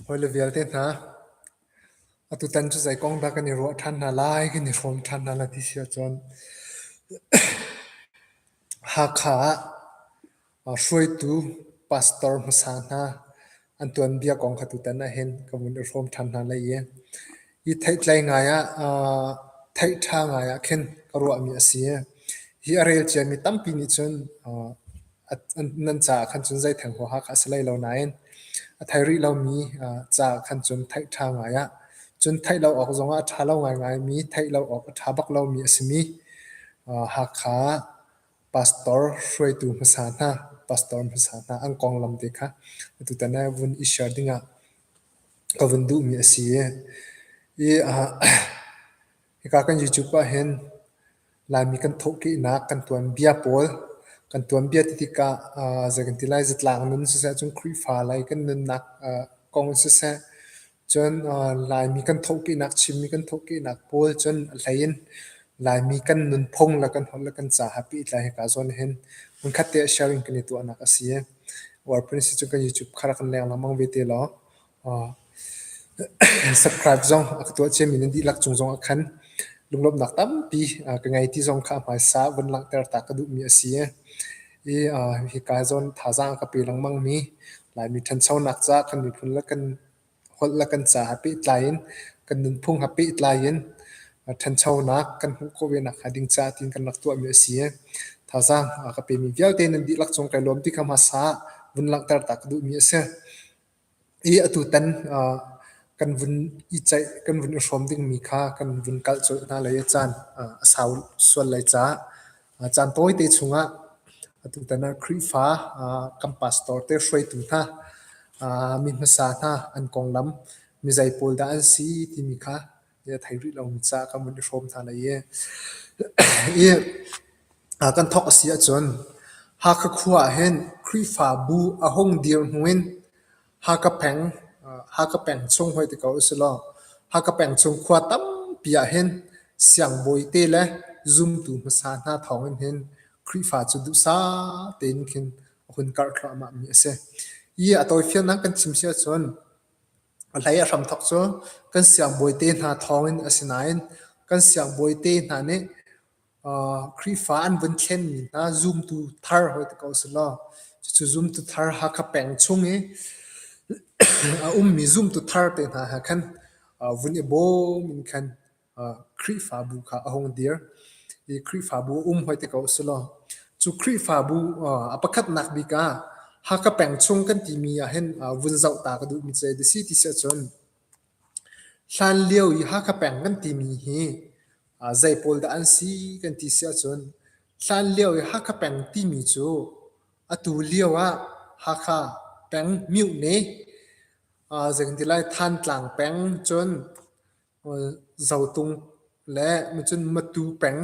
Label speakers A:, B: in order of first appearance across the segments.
A: Hawile vialte hna, atutan cu zei kong dah kan i ruah ṭhan hna lai, kan i hrawm ṭhan hna lai ti si ahcun Hakha ah hruaitu pastor hmasa hna An tuanbia kong kha tutan ah hin ka vun i hrawm ṭhan hna lai i hi theihtlei ngai ah aa theih ṭha ngai ah khin ka ruahmi a si. Hi a rel ciami tampi nih cun aa nan caah khan cun zeitheng huaha kha a si hlei lo nain a thei rih lomi aa caah khan cun theih ṭha ngai ah cun theih lo awk zongah a ṭha lo ngaingaimi, theih lo awk a ṭha bak lomi a simi aa Hakha Pastor hruaitu hmasa hna, pastor hmasa hna an konglam te kha atutan ah vun i share dingah ka vun duhmi a si i, i uh, hika kan YouTube ahhin Laimi kan thawhkehnak kan tuan bia pawl kan tuan bia ti tikah uh, zei kan ti lai, zatlang nun siseh, cun Khrihfa lei kan nunnak uh, kong in siseh, Cun Laimi kan thohkihnak, Chinmi kan thohkihnak pawl cun a hlei in Laimi kan nunphung le kan holh le kan ca ha pehtlai hika zawn hin hmunkhat te ah sharing kan i tuahnak a si i uarpun a si cun kan YouTube kha rak kan leng lengmang ve te law subscribe zong a ka tuah ciami nan dihlak cung zong ah khan lunglawmhnak tampi ka ngei ti zong kha a hmaisa vun langhter ta ka duhmi a si i Hikai zawn thazaang ka pe lengmang mi Laimi ṭhanchonak caah kan miphun le kan holh le kan caah pehtlai in kan nunphung ha pehtlai in ṭhanchonak kan hmuh khawh ve nakhnga ding caah tiin kan rak tuah mi a si i thazaang ka pe mi vialte nan dihlak cung kai lawm ti kha hmasa ah vun langhter ta ka duh mi a si. I atutan kan vun i ceih, kan vun i hrawm dingmi kha kan vun kalh colh hna lai i caan a sau sual lai caah caan tawite chungah atutan ah Khrihfa kan pastor te hruaitu hna mi hmasa hna an konglam mizei pawl dah an si timi kha i a thei rih lomi ca kan vun i hrawm hna lai i i kan thawk a si ahcun Hakha khua ah hin Khrihfabu a hung dir hnu in Hakha peng Hakha peng chung hoi ti ko usilaw Hakha peng chung khua tampi ah hin siangbawi te le zumtu hmasa hna thawng in hin Khrihfa cu duhsah tein khin a hun karh thluahmahmi a si. I a tawifiannak kan chim si ahcun Hlei a hramthawk cu kan siangbawi te hna thawng in a si nain kan siangbawi te hna nih Khrihfa an vun thlenmi hna zumtu thar hawi ti ko selaw cucu zumtu thar Hakha peng chung i a ummi zumtu thar te hna he khan vun i bawm in khan Khrihfabu kha a hung dir i Khrihfabu a um hoite ko si law cu Khrihfabu a pakhatnak bik ah Haka peng chung kan timi ahhin vun zoh ta ka duhmi cu a si ti si ahcun hlan lio i Haka peng kan timi hi zei pawl dah an si kan ti si ahcun hlan lio i Haka peng timi cu atu lio ah Haka peng myohne zeikan ti lai Thantlang peng cun zotung le micun matu peng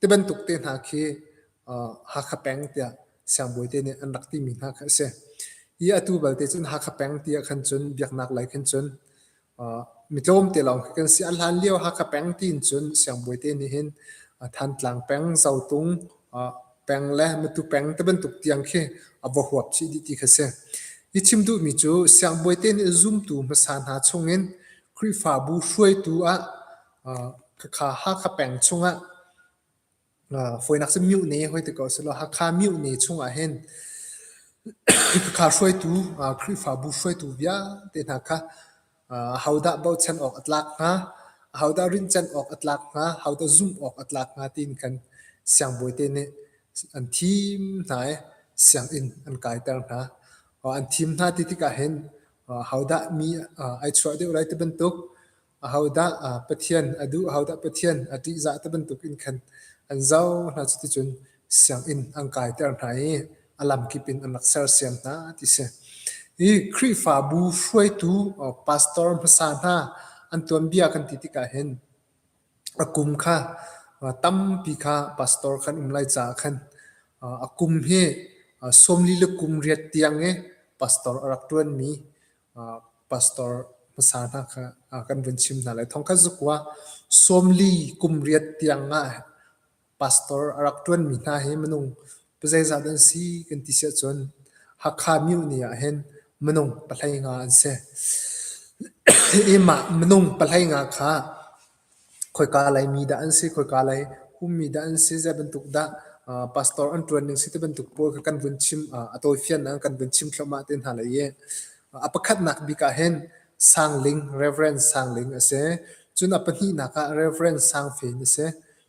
A: tibantuk te hna khi Hakha peng tiah siangbawi te nih an rak timi hna kha a si. Hi atu balte cun Hakha peng ti ah khan cun biaknak lei khan cun mitlawm te lawng khi kan si. A hlan lio Hakha peng tiin cun siangbawi te nih hin Thantlang peng, Zotung, peng le matu peng te bantuk tiang khi a va huap chih dih ti kha si. Hi chim duhmi cu siangbawi te nih zumtu hmasa hna chungin Khrihfabu hruaitu ah khakha Hakha peng chungah foinak si Myuhne hoi ti ko selaw Hakha Myuhne chungah hin khakha hruaitu Khrihfabu hruaitu vialte hna kha Ahodah bochan awk a tlak hnga? Ahodah rinhcanh awk a tlak hnga? Ahodah zumh awk a tlak hnga tiin khan siangbawite nih an thim hna i sianginn an kaiter hna. An thim hna ti tikah hin ahodah mi ai chuah deuh lai ti bantuk, ahodah Pathian a duh, ahodah Pathian a ṭihzah ti bantuk in khan an zoh hna. Cuticun sianginn an kaiter hna i a lamkip in an rak sersiam hna ti si. Hi Khrihfabu hruaitu pastor hmasa hna an tuanbia kan ti tikah hin a kum kha tampi kha pastor kan um lai caah khan a kum hi sawmli le kum riat tiang i pastor a rak ṭuanmi pastor hmasa hna kha kan vun chim hna lai. Thong khat zukua sawmli kum riat tiang ah pastor a rak ṭuanmi hna hi minung zeizat an si kan ti siahcun Hakha muni ahhin minung pahlei nga an si. Hi mah minung pahlei nga kha khoika laimi dah an si, khoika lei ummi dah an si, zei bantuk dah pastor an ṭuan ning si ti bantuk pawl kha kan vun chim a tawifiannak in kan vun chim thluahmah te hna le i a pakhatnak bik ahhin Sangling, Reverend Sangling a si. Cun a pahnihnak ah Reverend Sang Fen a si.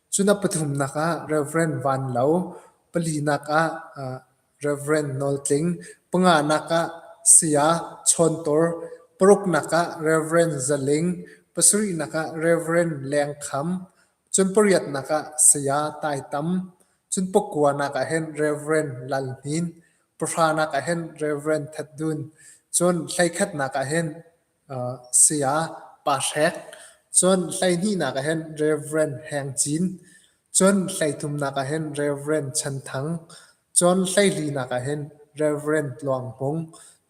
A: Cu na pathumnak ah Rev. Van Lo, palinak ah Rev. Nawl Tling, panganak ah Saya Chawn Tawr, paruknak ah Rev. Za Ling, pasarihnak ah Rev. Leng Kham, cun pariatnak ah Saya Tai Tam, cun pakuanak ah hin Rev. Lal Hnin, pahranak ah hin Rev. That Dun, cun hleikhatnak ah hin Saya Pa Hrek, cun hleihnihnak ah hin Reverend Heng Cin, cun hleithumnak ah hin Reverend Chan Thang, cun hleihlinak ah hin Reverend Tluang Hmung,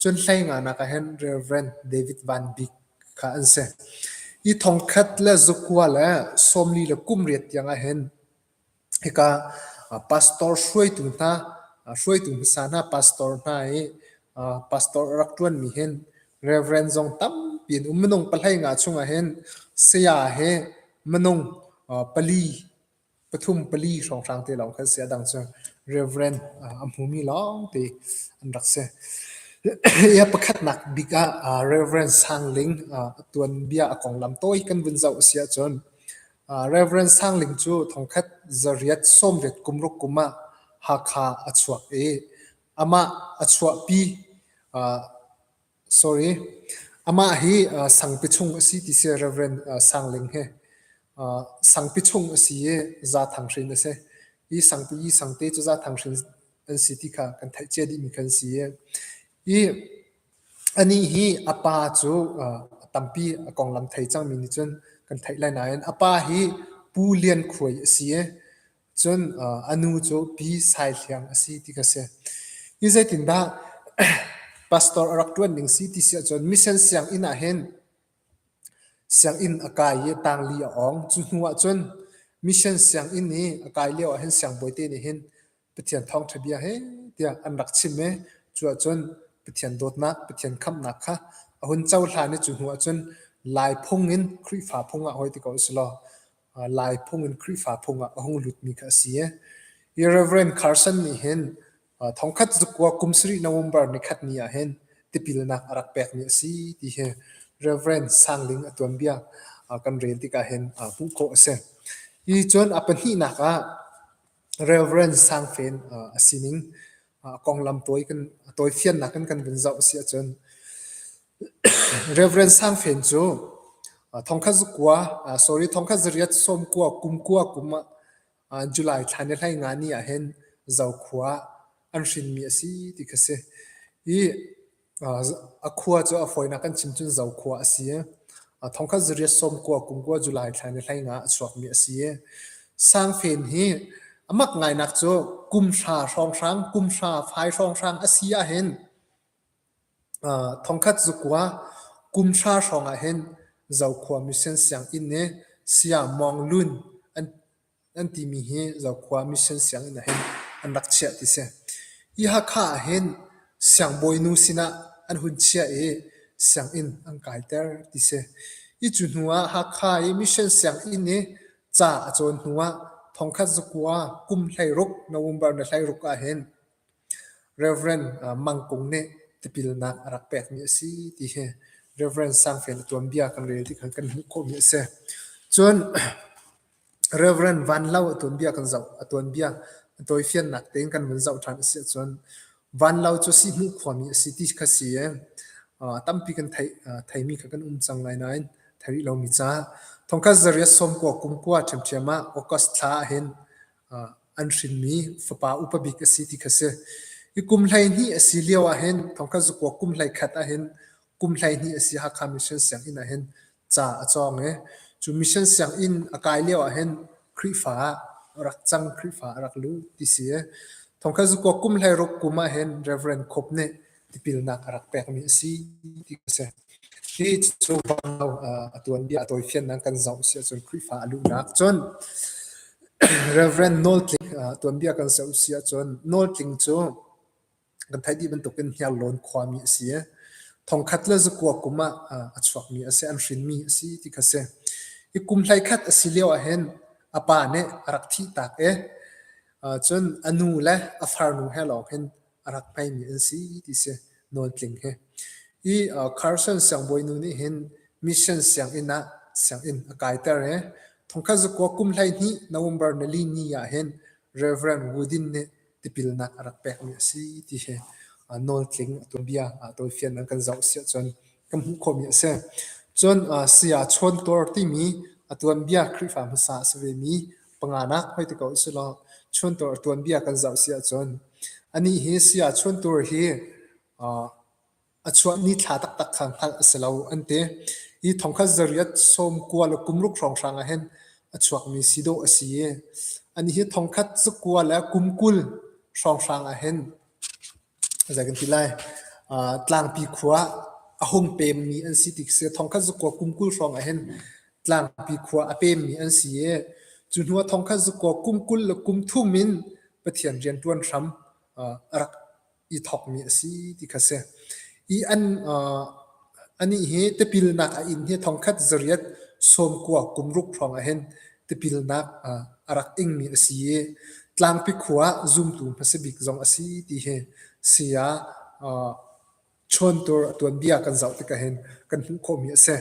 A: cun hleinganak ah hin Reverend David Van Bik kha an si. Hi thongkhat le zakua le sawmli le kum riat tiang ah hin Hika pastor hruaitu hna hruaitu hmasa hna pastor hna i pastor rak ṭuanmi hin Reverend zong tampi an um. Minung pahlei nga chungah hin saya he minung pali pathum pali hrawnghrang te lawng kha an si. A dang cu Reverend a hmumi lawngte an rak si. Hi a pakhatnak bik ah Reverend Sang Ling tuanbia a konglam tawi kan vun zoh a si ahcun Rev. Sang Ling cu thongkhat zariat sawmriat kumruk kum ah Hakha a chuak i amah a chuahpi sorry, amah hi sangpi chung a si ti si. Rev. Sang Ling hi sangpi chung a si i Zathang hrin a si. Hi sangpi i sangte cu Zathang hrin an si ti kha kan theih cia dihmi kha an si i Anih hi a pa cu a tampi a konglam thei cangmi nih cun kan theih lai nain a pa hi Pu Lian Khuai a si i cun a nu cu Pi Sai Hliang a si ti ka si. Hi zeitindah pastor a rak ṭuan ding si ti si ahcun mission sianginn ah hin sianginn a kai i tangli a ong. Cu hnu ah cun mission sianginn i a kai lio ah hin siangbawi te nih hin Pathian thawngṭha bia he tiah an rak chim i cu ah cun Pathian dawtnak, Pathian khamhnak kha a hun cohlan i cu hnu ah cun Lai phung in Khrihfa phung ah hawi ti ko usilaw Lai phung in Khrihfa phung ah a hung lutmi kha a si i hi Reverend Carson nih hin thongkhat zukkua kum sarih November nikhat ni ah hin tipilnak a rak pekmi a si ti hi Reverend Sang Ling a tuanbia kan rel tikah hin hmuh khawh a si. Hi cun a pahnihnak ah Reverend Sang Fen a sining konglam tawi kan tawifiannak in kan vun zoh a si ahcun Reverend Sang Fen cu thongkhat zakua sorry thongkhat zariat sawmkua kumkua kum ah July thla ni hlei nga ni ah hin zokhua an hrinmi a si ti kha a si. Hi A khua cu a fawinak kan chim cun Zo khua a si i thongkhat zariat sawmkua kumkua July thla ni hlei nga a chuakmi a si i Sangfen hi a mak ngainak cu kum hra hrawnghrang kum hra fai hrawnghrang a si ahhin thongkhat zukua kum hra hrawng ahhin Zo khua mission sianginn i Saya Mawng Lun Nan timi hi Zokhua Mission sianginn ahhin an rak chiah ti si. Hi Hakha ahhin siangbawi nu sinah an hun chiah i sianginn an kaiter ti si. Hi cu hnu ah Hakha i Mission sianginn i ca a cawn hnu ah thongkhat zakua kum hleiruk, November ni hleiruk ahhin Rev. Mang Kung nih tipilnak a rak pekmi a si ti hi Rev. Sangfel a tuanbia kan rel tikhan kan hmuh khawhmi a si. Cun Rev. Vanlo a tuanbia kan zoh. A tuanbia a tawifiannak tein kan vun zoh ṭhan a si ahcun Vanlo cu Sihhmuh khuami a si ti kha si i uh, tampi kan theih, uh, theimi kha kan um cang lai nain thei rih lomi ca. Thongkhat zariat sawmkua kumkua ṭhiamṭhiam ah August thla ahhin uh, an hrinmi fapa upa bik a si ti kha si. I kum hleihnih a si lio ahhin thongkhat zukua kum hlei khat ahhin kum hleihnih a si Hakha Mission Sianginn ahhin ca a cawng i cu mission sianginn a kai lio ahhin Khrihfa a rak cang Khrihfa a rak lut ti si i thongkhat zukuak kum hlei ruk kum ahhin Reverend Kop nih tipilnak a rak pekmi a si ti a si hi cu a tuanbia a tawifiannak kan zoh si ahcun Khrihfa a luhnak cun Reverend Nawl Tling tuanbia kan zoh si ahcun Nawl Tling cu kan theih dih bantuk in Hniarlawn khuami a si i thongkhat le zakua kum ah a chuakmi a si an hrinmi a si ti kha si hi kum hlei khat a si lio ahhin a pa nih a rak thih tak i cun a nu le a farnu he lawng hin a rak hmeimi an si ti si nawn tling hi i Carson siangbawi nu nih hin mission sianginn ah sianginn a kaiter i thongkhat zakua kum hlei hnih November nali ni ah hin Reverend Woodin nih tipilnak a rak pekmi a si ti hi uh, nawl tling a tuanbia uh, tawifian an kan zoh si ahcun kan hmuh khawhmi a si. Cun uh, saya Chawn Tuar timi a tuanbia Khrihfa hmasa a si vemi panganak hoi ti ko i sulaw Chawn Tuar tuanbia kan zoh si ahcun anih hi saya Chawn Tuar hi uh, a chuahmi thla taktak kha hngalh a si lo an ti. Hi thongkhat zariat sawm kua le kum ruk hrawnghrang ah hin a chuakmi si dawh a si i anih hi thongkhat zakua le kum kul hrawnghrang ah hin zei kan ti lai uh, tlangpi khua a hung pemmi an si ti si thongkhat zakua kum kul hrawng ah hin tlangpi khua a pemmi an si i cu hnu ah thongkhat zakua kum kul le kum thum in Pathian rianṭuan hram uh, a rak i thawkmi a si ti kha si. I an uh, anih hi tipilnak a in hi thongkhat zariat sawmkua kumruk hrawng ah hin tipilnak uh, a rak ingmi a si i tlangpi khua zumtu hmasabik zong a si ti hi sia uh, chontur tuanbia kan zoh tikah hin kan hmuh khawmi a si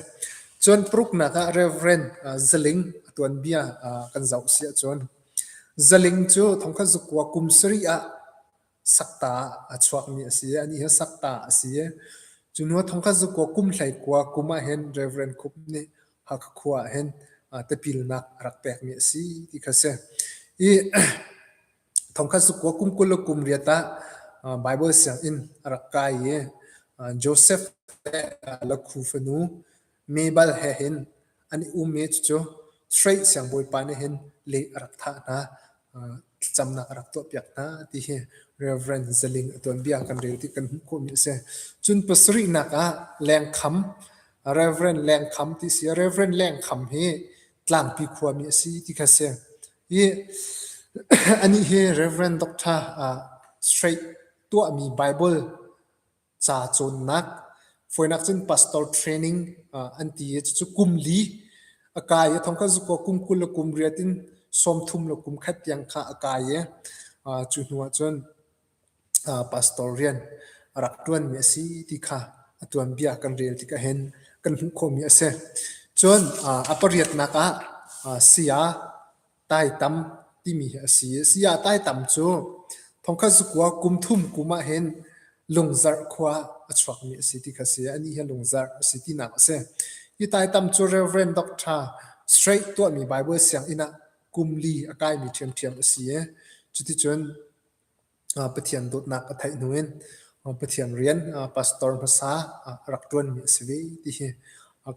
A: cun pruknak ah reverend uh, zaling tuanbia uh, kan zoh si cun zaling cu thongkhat zukua kum sari ah sakta a chuakmi a si i ani hi sakta a si i cu hnu thongkhat zu kua kum hlei kua kum ah hin Reverend Khup nih Hakha khua ah hin tapilnak a rak pekmi a si ti kha si i thongkhat zu kua kum kul le kum riat ah Bible sianginn a rak kai i Joseph le Lakhu fanu Mebal he hin an i um i cucu Sui siangbawipa nih hin leh a rak thah hna, thlacamnak a rak tuahpiak hna ti hi Reverend Zaling a tuanbia kan rel ti kan hmuh khawhmi a si. Cun pasarihnak ah Lengkham, Reverend Lengkham ti si i Reverend Lengkham hi Tlangpi khuami a si ti kha a si. I anih hi Reverend Doctor Sui tuahmi Bible ca cawnnak foinak cun pastor training an ti i cucu kum li a kai a thong kha zuko kum kul le kum riat in sawmthum le kum khat tiang kha a kai i cu hnu ah cun pastor rian a rak ṭuan mi a si ti kha a tuan bia kan rel tik ahhin kan hmuh khomi a si cun a pariatnak ah sia Taitam timi hi a si. Saya Taitam cu thongkhat zakua kum thum kum ah hin Lungzarh khua a chuakmi a si ti kha a si. Anih hi Lungzarh a si tinak a si. Hi Taitam cu Reverend Doctor Straight tuahmi Bible sianginn ah kum li a kaimi ṭhiamṭhiam a si i cuticun Pathian dawtnak a theih hnu in Pathian rian pastor hmasa a rak ṭuanmi a si ve ti hi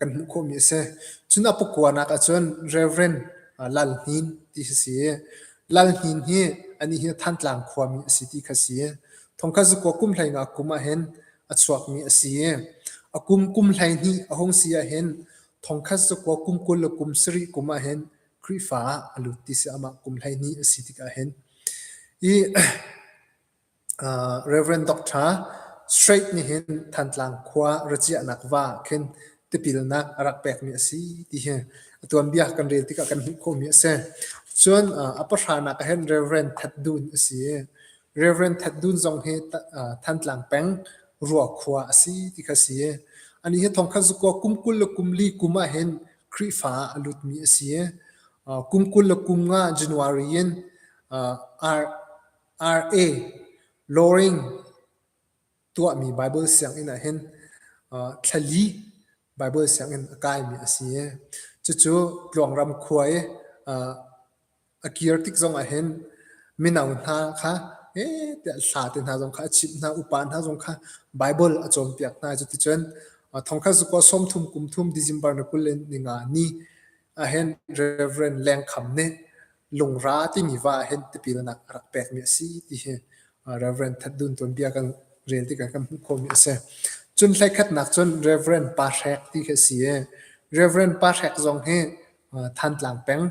A: kan hmuh khawhmi a si. Cun a pakuan ah cun Reverend Lal Hnin ti a si i Lal Hnin hi anih hi Thantlang khuami a si ti kha a si. Thongkhat zakua kum hleingah kum ahhin a chuakmi a si i a kum kum hleihnih a hung si ahhin thongkhat zakua kum kul le kum sarih kum ahhin Khrihfa ah a lut ti si, amah kum hleihnih a si tikah hin. I uh, Reverend Doctor Straight nih hin Thantlang khua raciahnak va khin tipilnak a rak pekmi a si ti hi a tuanbia kan rel tikah kan hmuh khawhmi a si. Cun uh, a pahranak ah hin Reverend Ted Dun a si i Reverend Ted Dun zong hi uh, Thantlang peng Ruakhua a si ti kha si. Ani hi thongkhat zuko kum kul le kum li kum ah hin Khrihfa ah a lutmi a si i kum kul le kum nga January in RA Loring tuahmi Baibal sianginn ah hin thlali Baibal sianginn a kaimi a si i cucu Tluangram khua i a kir tik zongah hin mino hna kha ee tiah hla te hna zong kha a chimh hna, upa hna zong kha Baibal a cawnpiak hna. Cuticun thongkhat zuk aw sawmthum kum thum December ni kul le ninga ni ahhin Reverend Leng Kham nih lungra timi va ahhin tipilnak a rak pekmi a si ti hi Reverend That Dun tuanbia kan rel tikah kan hmuh khawhmi a si. Cun hlekhatnak cun Reverend Pa Hrek ti khi a si i Reverend Pa Hrek zong hi Thantlang peng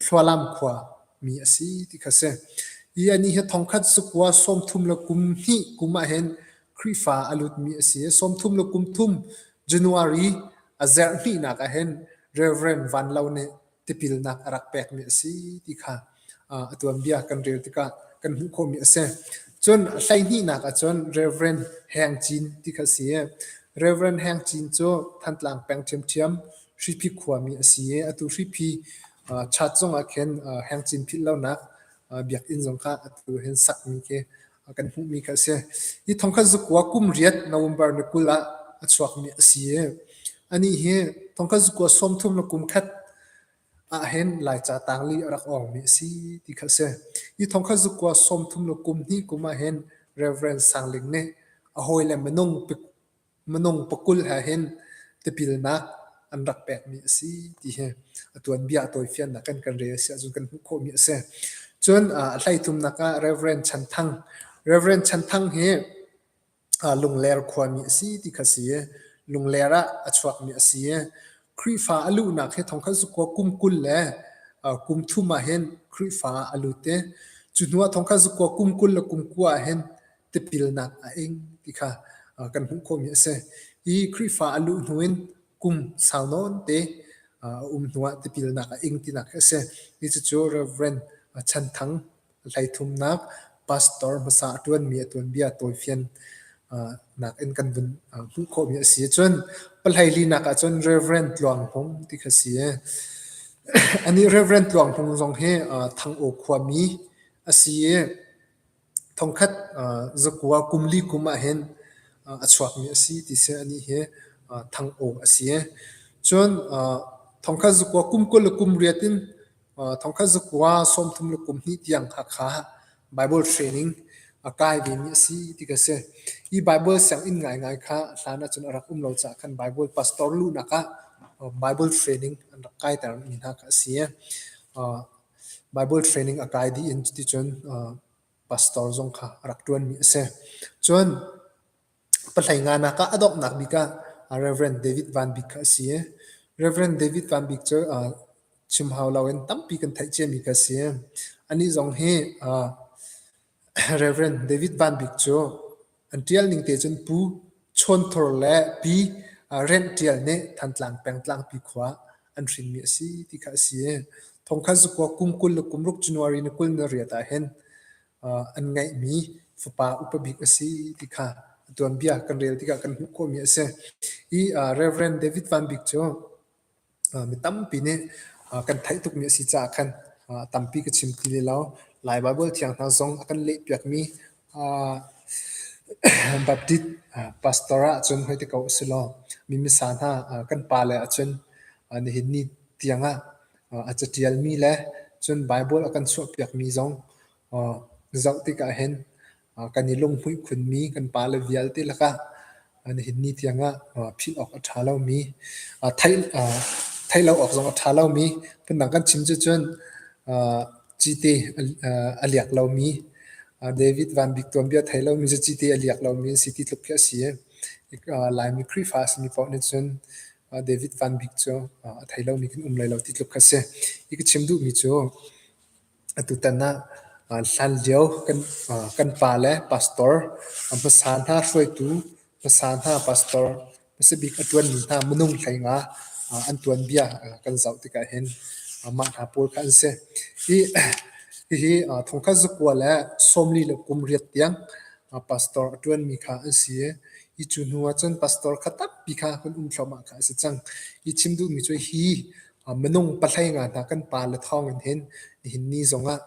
A: Hlualam khua mi a si ti kha si. I anih hi thongkhat sukua sawmthum le kum hnih kum ah hin Khrihfa a lutmi a si. Sawmthum le kum thum January a zerh hnihnak ah hin Reverend Van Lo nih tipilnak a rak pekmi a si ti kha uh, a tuanbia kan rel tikah kan hmuh khawhmi a si. Cun hleihnihnak ah cun Reverend Heng Cin ti kha si. Reverend Heng Cin cu Thantlang peng ṭhiamṭhiam Hriphi khuami a si i atu hriphi chat zongah khin hengcin philh lonak biakinn zong kha atu hin sakmi khi kan hmuhmi kha a si. Hi thongkhat zukua kum riat November ni kul ah a chuakmi a si i anih hi thongkhat zukua sawmthum le kum khat ah hin Laica tangli a rak awngmi a si ti kha a si. Hi thongkhat zukua sawmthum le kum hnih kum ah hin Reverend Sang Ling nih a hawi le minung Minung pakulh he hin tipilnak an rak pekmi a si ti hi a tuanbia a tawifiannak kan kan rel a si ahcun kan hmuh khawhmi a si. Cun a hleitlumnak ah Reverend Chan Thang, Reverend Chan Thang hi Lungler khuami a si ti kha si i Lungler ah a chuakmi a si i Khrihfa a luhnak hi thong khat cu kum kul le kum thum ah hin Khrihfa a lut i cu hnuah thong khat cu kum kul le kum kua ah hin tipilnak a ing ti kha kan hmuh khomi a si. Hi Khrihfa a luh hnu in kum sau nawn te a um hnu ah tipilnak a ing tinak a si. Hi cucu Reverend Chan Thang Hleithumnak pastor hmasa a ṭuanmi a tuanbia tawifian nak in kan vun hmuh khawhmi a si ahcun pahleilinak ahcun Reverend Tluang Hmung ti kha si e. Anih Reverend Tluang Hmung zong hi Thang Aw khuami a si i Thongkhat zakua kum li kum ahhin a chuakmi a si ti si. Anih hi thangawng a si. Cun thongkhat zakua kum kul le kum riat in thongkhat zakua sawmthum le kum hnih tiang kha kha Baibal training a kai vemi a si ti ka si. Hi Baibal sianginn ngaingai kha hlan ahcun a rak um lo caah khan Baibal pastor luhnak ah Baibal training an rak kaiter mi hna kha a si. Baibal training a kai dih in cuticun pastor zong kha a rak ṭuanmi a si. Cun pahlehnganak ah a donghnak bik ah Reverend David Van Bik kha a si i Reverend David Van Bik cu chim hau loin tampi kan theih ciami kha a si. Anih zong hi Rev. David Van Bik cu an ṭial ning te cun Pu Chawn Thur le Pi Rent Ṭial nih Thantlang pengtlangpi khua an hrinmi a si ti kha a si i thongkhat zakua kum kul le kum ruk January ni kul ni riat ahhin an ngeihmi fapa upa bik a si ti kha a tuanbia kan rel tikah kan hmuh khawhmi a si. Hi Rev. David Van Bik cu Mi tampi nih kan theih tukmi a si caah khan a tampi ka chim ti lilo. Lai Baibal thiang hna zong a kan lehpiakmi Baptist pastor ahcun hoiti ko usilaw mi missa hna kan pa le ahcun nihin ni tiangah a catialmi le cun Baibal a kan chuahpiakmi zong zoh tikah hin kan i lunghmuih khunmi kan pale vialte lakah nihin ni tiangah philh awk a ṭha lomi theih lo awk zong a ṭha lomi phundang kan chim cucun cite a liak lomi David Van Bik tuanbia thei lomi cu cite a liak lomi an si ti tluk khi a si i Laimi Khrihfa a simi paoh nih cun David Van Bik cu a thei lomi kan um lai lo ti tluk kha a si. Hi ka chim duhmi cu Atutan ah hlanlio kan pa le pastor, hmasa hna hruaitu, hmasa hna pastor, hmasabik a ṭuanmi hna minung hleinga an tuanbia kan zoh tikah hin mah hna pawl kha an si. Hihi thongkhat zakua le sawmli le kum riat tiang pastor a ṭuanmi kha an si i hi cu hnu ahcun pastor kha tampi kha kan um thluahmah kha a si cang. Hi chim duhmi cu hi Minung pahlei nga hna kan pale thawng in hin nihin ni zongah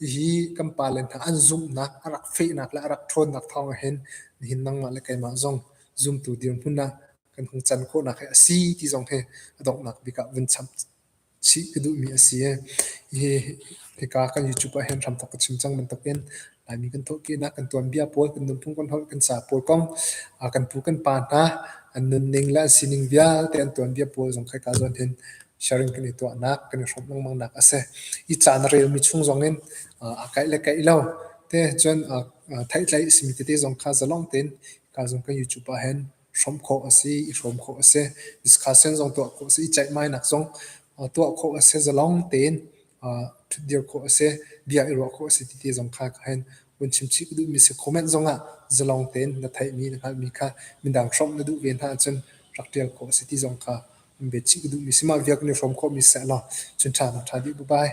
A: hihi kan pale hna an zumhnak, a rak fehnak le a rak ṭhawnnak thawng ah hin nihin nangmah le keimah zong zumtu dirhmun ah kan hung can khawhnak hi a si ti zong hi a donghnak bik ah vun cham chih ka duhmi a si i hihi hika kan YouTube ah hin hramthok ka chim cang bantukin Laimi kan thawhkehnak kan tuanbia pawl, kan nunphung kan holh, kan sa pawl kong, kan pu kan pa hna an nunning le an sining vialte an tuanbia pawl zong khai ka zuan hin sharing kan i tuahnak kan i hrawm lengmangnak a si. Hi caan a relmi chung zong in a kaih le kaih lo te cun theih tlaih a simi tete zong kha zalawng tein ka zung kan YouTube ah hin hrawm khawh a si, i hrawm khawh a si. Discussion zong tuah khawh a si, i ceihmainak zong tuah khawh a si, zalong tein ṭhutdir khawh a si, bia i ruah khawh a si titi zong kha ka hen vun chimchih ka duhmi si. Comment zong ah zalong tein na theihmi, na hngalhmi kha midang hrawmh na duh ve hna ahcun rak ṭial khawh a si ti zong kha in biachih ka duhmi si. Mah vialte nih hrawm khawhmi sehlaw cun ṭha nak ṭha dih. Bye-bye.